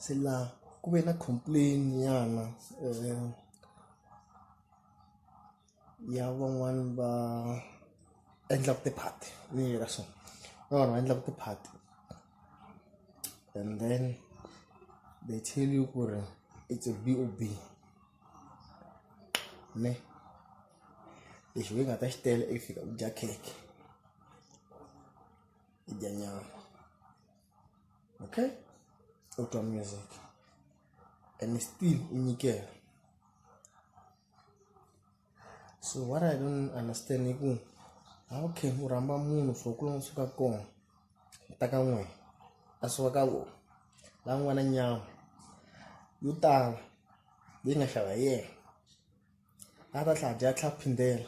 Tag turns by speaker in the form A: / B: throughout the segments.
A: Se la ku ve na complain nyana ya van'wani va endlaka ti-party ni yi veka so va vanhu va endlaka ti-party and then they tell you ku ri it's a B_O_B ne lexi wena u nga ta xi tela i ku fika u dya khekhe u dya nyama. okay auto music and still unyikela so what i don't understand i ku how can u rhamba munhu for ku lava suka kona ta ka n'wina a suka ka vona la n'wana nyama yo tala leyi nga xava hi yena a ta tlhela a dya a tlhela a phindela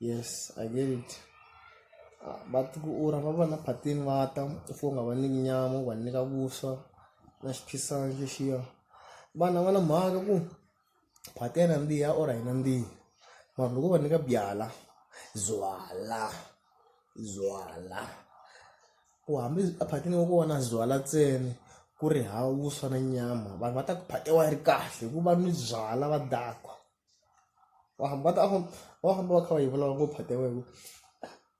A: yes I get it va ti ku u ra va va na phatini va ta u fika u nga va nyiki nyama u va nyika vuswa na xiphikisana lexiya vanhu a va na mhaka ku phati ya nandziha or a yi nandzihi mara loko u va nyika byalwa byalwa byalwa ku hambi a phatini ya kona byalwa ntsena ku ri hava vuswa na nyama vanhu va ta ku phati ya wena yi ri kahle hikuva va nwi byalwa va dakwa. wa hamba ta famba wa famba va kha va yi vulavula ngopfu phati ya wena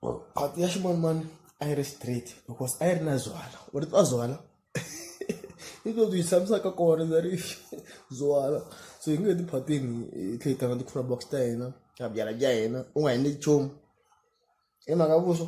A: ku phati ya ximanimani a yi ri straight because a yi ri na zwana u ri twa zwana i to byi tshamisaka kona ndza ri zwana so hi nge ti phatini hi tlhe hi tlanga ti-cura box ta hina ta byala bya hina u nga endli nchumu hi mhaka vuswa .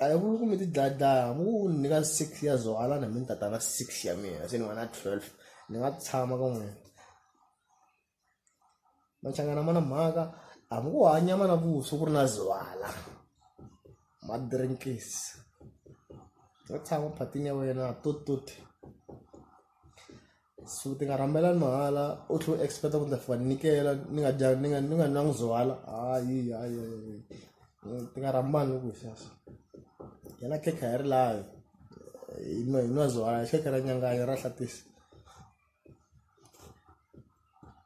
A: a hi ku ku mi ti dlaya dlaya hambi ku ni nyika six years or alana mi ni tata na six ya mina se ni va na twelve ni nga tshama ka n'wina machangana ma na mhaka hambi ku hanya ma na vuswa ku ri na zivala ma drinkis nga tshama phatini ya wena tototi so ti nga rhambela ni mahala u tlhe u expect ku ni ta fika ni nyikela ni nga dya ni nga ni nga nwangi zowala hayi hayi hayi ti nga rhambani loko hi sweswo yena khekha hi ri layo hi nwa hi nwa zowala khekha ra nyanganya ra hlatisa